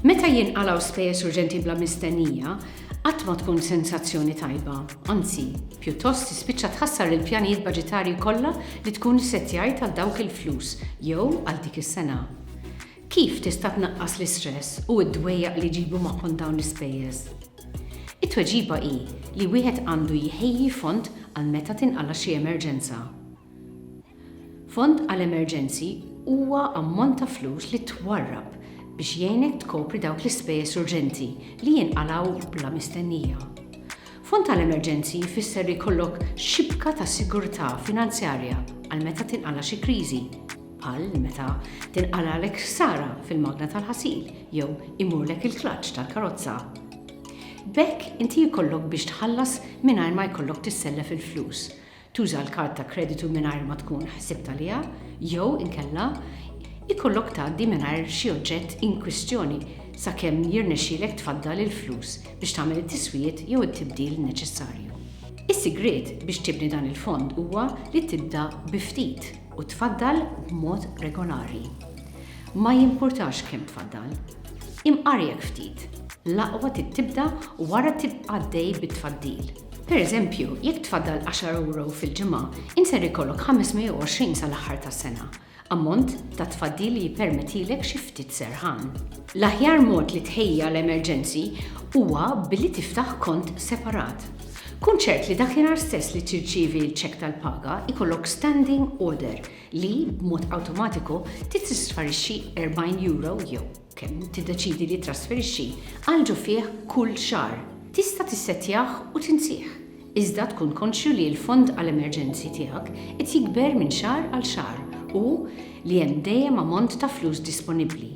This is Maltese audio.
Meta jinqalaw spejjeż urġenti bla mistennija, qatt ma tkun sensazzjoni tajba, anzi, pjuttost tispiċċa tħassar il-pjanijiet baġitarji kollha li tkun issettjajt għal dawk il-flus jew għal dik is-sena. Kif tista' tnaqqas l-istress u d-dwejjaq li jġibu magħhom dawn l-ispejjeż? It-tweġiba hi li wieħed għandu jħejji fond għal meta tinqala' xi emerġenza. Fond għal emerġenzi huwa ammont ta' flus li twarrab biex jgħinek tkopri dawk l-ispejjeż urġenti li jinqalgħu bla mistennija. Fond għal emerġenzi jfisser li jkollok xibka ta' sigurtà finanzjarja għal meta tinqala' xi kriżi. bħal meta tinqalagħlek ħsara fil-magna tal-ħasil jew imurlek il-klaċċ tal-karozza. B'hekk inti jkollok biex tħallas mingħajr ma jkollok tissellef il-flus, tuża l-kard ta' kreditu mingħajr ma tkun ħsibt għaliha jew inkella jkollok tgħaddi mingħajr xi oġġett inkwistjoni sakemm jirnexxielek tfaddal il-flus biex tagħmel it-tiswijiet jew it-tibdil neċessarju. Is-sigriet biex tibni dan il-fond huwa li tibda bi ftit. U tfaddal b'mod regolari. Ma jimpurtax kemm tfaddal. Imqarjek ftit. L-aqwa trid tibda wara tibqa' għaddej bit-tfaddil. Per eżempju, jekk tfaddal għaxar ewro fil-ġimgħa, int ser ikollok 520 sal-aħħar tas-sena, ammont ta' tfaddil li jippermettilek xi ftit serħan. L-aħjar mod li tħejji għal emerġenzi huwa billi tiftaħ kont separat. Kun ċert li dakinhar stess li tirċievi l-ċekk tal-paga jkollok standing order li, b'mod awtomatiku, titristfarixxi erbgħin euro jew kemm tiddeċiedi li ttrasferixxi għal ġo fih kull xahar. Tista' tissettjah u tinsih, iżda tkun konxju li l-fond għal emerġenzi tiegħek qed jikber minn xahar għal xahar u li hemm dejjem ammont ta' flus disponibbli.